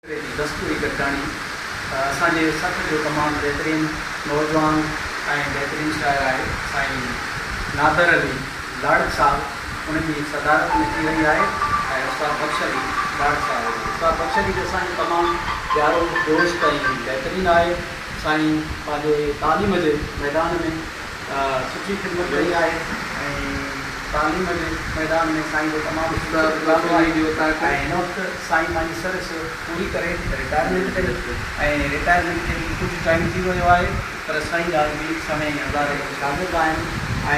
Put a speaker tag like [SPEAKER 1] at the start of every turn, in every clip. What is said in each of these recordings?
[SPEAKER 1] جي دستوري گڏجاڻي اسان جي سٿ جو تمام بهترين نوجوان ۽ بهترين شاعر آهي سائين نادر علي لاڙڪ صاحب ان جي صدارت ۾ ٿي رهي آهي ۽ استاد بخش علي لاڙڪ صاحب هجي استاد بخش علي به اسان جو تمام پيارو دوست ۽ بهترين آهي سائين پنهنجي تعليم جي ميدان ۾ سٺي خدمت ڪئي آهي ۽ تعليم جي ميدان ۾ سائين جو تمام سٺو ڪردار آهي ۽ هن وقت سائين پنهنجي سروس پوري ڪري رٽائرمينٽ تي ۽ رٽائرمينٽ کي به ڪجهه ٽائيم ٿي ويو آهي پر سائين اڄ به سوين هزاري ۾ شاگرد آهن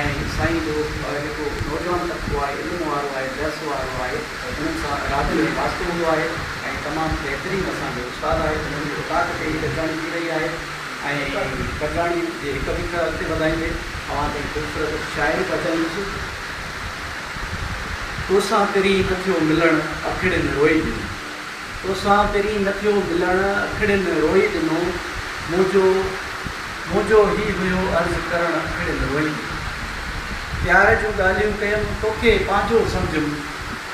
[SPEAKER 1] ۽ سائين جو جيڪو نوجوان طبقو آهي علم وارو آهي درس وارو آهي انهن سان رابطي ۾ واسطو هوندو آهي ۽ تمام بهترين اسان جو استاد آهي انهن جي اوطاق تي هي گڏجاڻي ٿي رهي آهي ۽ ڪنڊاڻي جي هڪ ٻه اکر اڳتي وڌائيندي اوهان تائين خوبصورت شاعري پهچائي ويندسون. توسان پرين نه ٿيو ملڻ اکڙين روئي ڏنو. توسان پرين نه ٿيو ملڻ اکڙين روئي ڏنو منهنجو منهنجو هي هيو عرض ڪرڻ اکڙين روئي ڏنو پيار جون ڳالهيون ڪيم توکي پنهنجو سمجهيم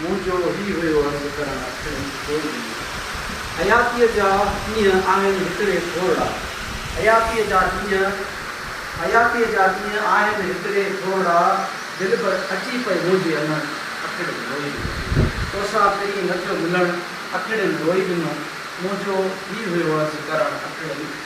[SPEAKER 1] مون جو هي هيو عرض ڪرڻ اکر ئي ڇو ڏنو. حياتيء جا ڏينهن آهن هڪڙي ٿورڙا. حياتيء جا ڏينهن حياتيء جا ڏينهن آهن هڪڙي ٿورڙا دلبر اچي پئي منهنجي امڙ اکڙين روئي ڏنو. توسان پرين نه ٿيو ملڻ اکڙين روئي ڏنو. مون جو هي هيو عرض ڪرڻ اکڙين.